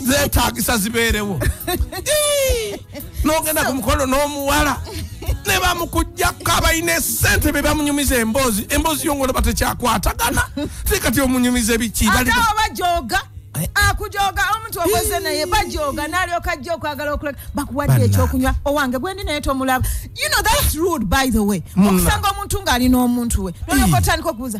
zetagisa zibeerewo nogenda ku mukolo n'omuwala ne bamukujjako abalina esente be bamunyumiza emboozi emboozi yo ngolaba tekyakwatagana te kati omunyumiza biki bajoga eh? akujoga omuntu okoze naye bajoga nalyoka ajja okwagala okuleka bakuwadde ekyokunywa owange gwendi naye tomulaba you know that's rude by the way okusanga omuntu ng'alina omuntu we nolyoka otandika okubuuza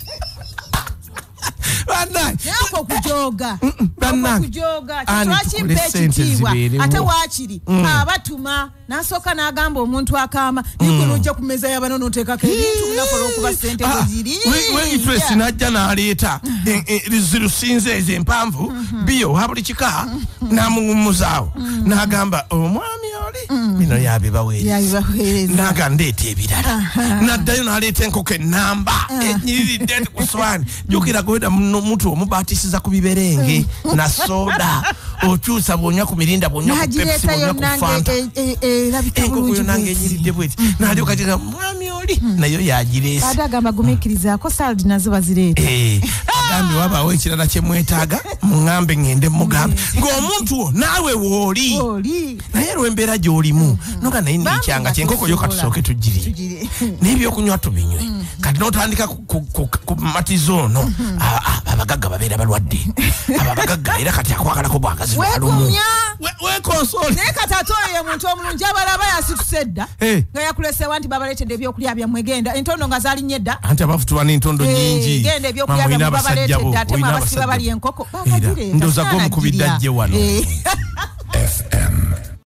okujooga okujooga kyekimpa ekitiibwa ate waakiri mm. abatuma nasooka n'agamba omuntu akaama nikuno mm. ojja ku mmeeza yabano noteekako ebintu nakola okuba sente ah, weziriweitresi n'ajja n'aleeta eh, eh, zirusinze ezo empanvu mm-hmm. biyo oha buli kika mm-hmm. n'amuwummuzaawo mm-hmm. n'agamba omwami mm. bino yabibaweerezaga ndeeta ebirala naddayo naleeta enkoko enamba ah. enyiriridde nti ku swaani jukira kuweda mutu omubatisiza ku biberenge mm. na soda okyusa bwonya ku mirinda bwonya ku pepsi bwonya ku fanta e- e- e- enkoko yo nange enyiridde bweti mm. nalyo kati nga mwami oli nayo yagireese agamba gumikirizako saldi nazo bazireeta eh. mugambe wabaawo ekirala kyemwetaaga mugambe ngende mugambe ng'omuntu wo naawe wooli naye lwembeera gyolimu mm-hmm. noga naye nekyanga kyenkoko yo katusooke tugiri nebyokunywa tubinywe mm-hmm. kati notandika ku matiza ono mm-hmm. ah, ah, abagagga babeera balwadde abo abagagga era kati akwagalako bwagazi walumu naye kati ate oyo yemuntu omulungi abalaba yasituse dda eh. nga yakulesewa nti babaletedde ebyokulya byamwe genda entondo nga zalinnye dda anti abavutuba n'entondo eh, nyingi genda ebyokulya byamwe babaletedde ate mwe abasiba bali enkoko era ndoza gomukubidde ajje wano eh.